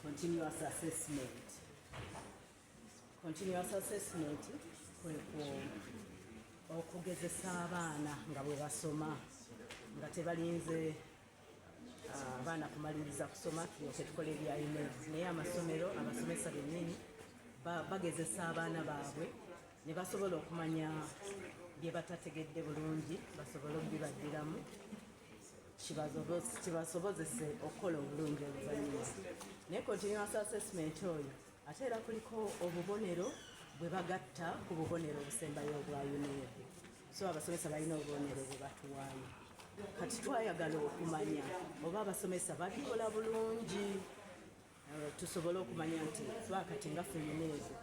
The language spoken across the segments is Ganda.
continuous assessment continuous assessment kwekwo okugezesa abaana nga bwe basoma nga tebalinze ah, abaana kumaliriza kusoma tulyoke tukola ebyayime naye amasomero abasomesa bennyini bagezesa abaana baabwe ne basobola okumanya bye batategedde bulungi basobole okubibaddiramu kibasobozese okukola obulungi oluvanyuma naye continuous assessment oyo ate era kuliko obubonero bwe bagatta ku bubonero obusembayo obwa union so abasomesa balina obubonero bwe batuwaayo kati twayagala okumanya oba abasomesa babikola bulungi eh, tusobole okumanya nti twakati nga feminezi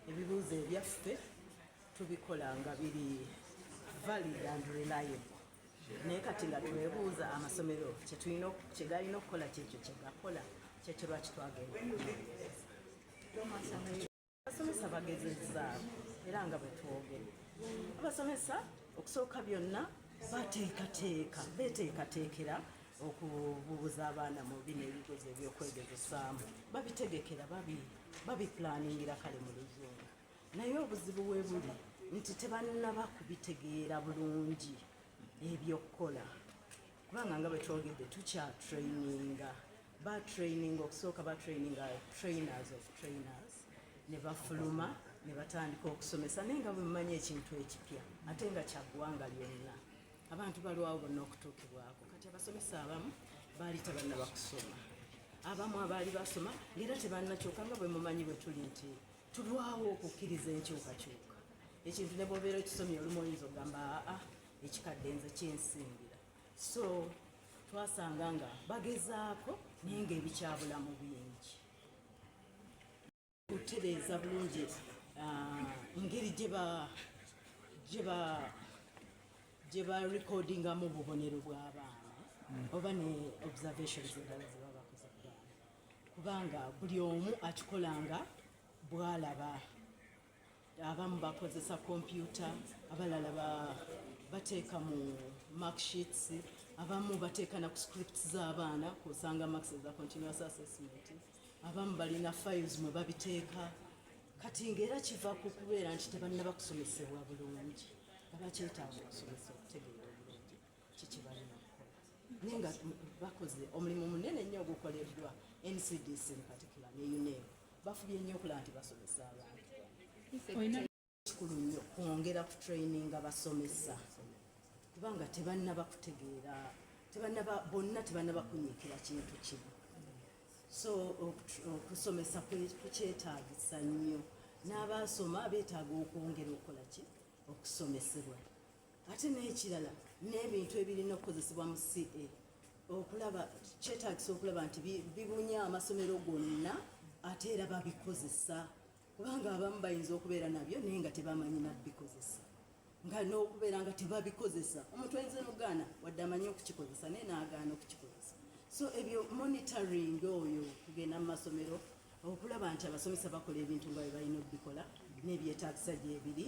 ebibuuzo ebyaffe tubikola nga biri valid and reliable naye kati nga twebuuza amasomero kyegalina okukola kyekyo kyegakola kyekyo lwaki twagenda abasomesa bagezezaako era nga bwetwogere abasomesa okusooka byonna bateekateeka beteekateekera okububuza abaana mu bino ebigezo ebyokwegezesaamu babitegekera babiplaningira kale mu luzungu naye obuzibu we buli nti tebannaba kubitegeera bulungi ebyokukola kubanga nga bwetwogedde tukyatraininga batraininga okusooka batraininga trainers of trainers ne bafuluma ne batandika okusomesa naye nga bwemumanyi ekintu ekipya ate nga kyaggwanga lyonna abantu balwawo bonna okutuukibwako kati abasomesa abamu baali tebanna bakusoma abamu abaali basoma ngaera tebanna kyoka nga bwemumanyi bwetuli nti tulwawo okukkiriza enkyukakyuka ekintu ne bwobeera okisomye olumu oyinza okugamba aa ekikadde nze kyensingira so twasanga nga bagezaako naye nga ebikyabulamu bingi okutereeza bulungi ah, ngeri gye ba recordingamu obubonero bw'abaana mm. oba ne observations endala kubanga buli omu akikolanga bwalaba abamu bakozesa kompyuta abalala bateeka mu marksheets abamu bateeka na ku scripts z'abaana kusanga marks za continuous assessment abamu balina files mwe babiteeka kati ngaera kiva ku kubeera nti tebanna bakusomesebwa bulungi abakyetaaga okusomesa okutegeera kikibalina naye nga bakoze omulimu munene nnyo ogukoleddwa ncdc mupatikula ne uneo bafubye nnyo okulaba nti basomesa abantu kikulu nnyo kwongera ku traininga basomesa kubanga tebanna bakutegeera tebanna bonna tebanna bakunyikira kintu kimu so okusomesa kukyetaagisa nnyo n'abaasoma beetaaga okwongera okukola ki okusomesebwa ate n'ekirala n'ebintu ebirina okukozesebwa mu ca okulaba kyetagisa okulaba nti bibunya amasomero gonna ate era babikozesa kubanga abamu bayinza okubeera nabyo naye nga tebamanyi nabikozesa nga n'okubeera nga tebabikozesa omuntu ayinza nokugaana wadde amanyi okukikozesa naye naagaana okukikozesa so ebyo monitoring oyo kugenda mu masomero okulaba nti abasomesa bakola ebintu nga bye balina okubikola n'ebyetagisa gyebiri